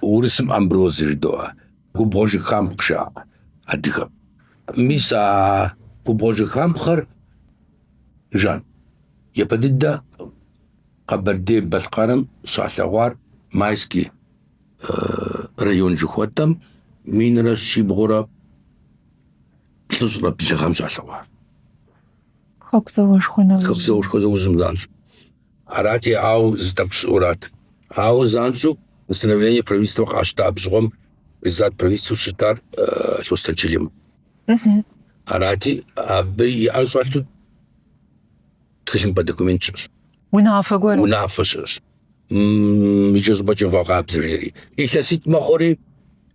Урысым Амброзы жыдоӏэ, губгъуэ жыхампхъэ жаӏэ адыгэм. Мис а губгъуэ жыхампхъэр жан. Япэ дыдэ Къэбэрдей-Балъкъэрым щалъэгъуар Майский район жыхуэтӏэм минрэ щибгъурэ плӏыщӏрэ блы гъэм щалъэгъуар. Хэку зауэшхуэ нэужьым. Хэку зауэшхуэ нэужьым занщӏэу. Арати, ауэ зы тӏэкӏу щыӏэу арат. Ауэ занщӏэу постановление правительствэ къащта абы щыгъуэм председатель правительствэу щытар Лъостэн Чылим. Арати, абы и ӏэр щӏэлъу тхылъымпӏэ документ щыӏэщ. Унафэ гуэр. Унафэ щыӏэщ. Иджы щӏыпӏэкӏэ вгъэкъабзэ жери. Илъэситӏ мэхъури.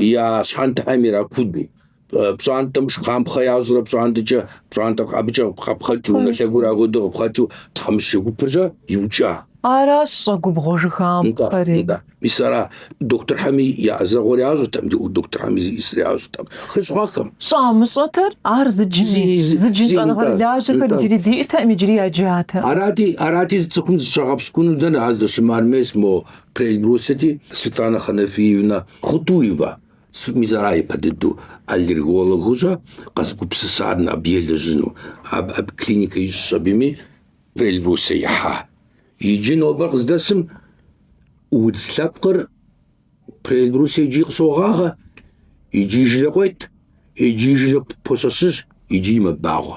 я щхьэнтэм иракудэу. пщӏантӏэм жыхампхъэ ящӏурэ пщӏантӏэкӏэ пщӏантӏэр абыкӏэ къапхъэнкӏыу, унэ лъэгур апхуэдэу къапхъэнкӏыу тхьэмыщкӏэ гупэкӏэ иукӏа. Аращ щӏэгубгъуэ жыхапхъэри. Нтӏэ, мис ара дохутырхэми я ӏэзэгъуэр ящӏэртэкъым, ди дохутырхэми зищӏысыр ящӏэртэкъым, хыщӏ гъэхэм. Щӏамыщӏэтэр ар зы джыни, Зи, зи, зы джын зи, нтӏэ, щӏэныгъэрылажьэхэр нтӏэ. иджыри диӏэтэкъым, иджыри яджатэкъым. Арати, арати цӏыхум зыщагъэпщкӏуну дэнэ, ар здыщымыӏэр мес мо Приэльбрусьети Светлана Ханафиевна Хутуева мис ара ипэ дыдэу аллергологу щӏэ къэзыгупсысар абы елэжьыну. Абы абы клиникэ ищӏщ абыми Приэльбрусье ихьа. Иджы нобэр къыздэсым удз лъэпкъыр Приэльбрусье икӏи къыщогъагъэ, икӏи жылэ къует, икӏи жылэ пощэщыж, икӏи мэбагъуэ.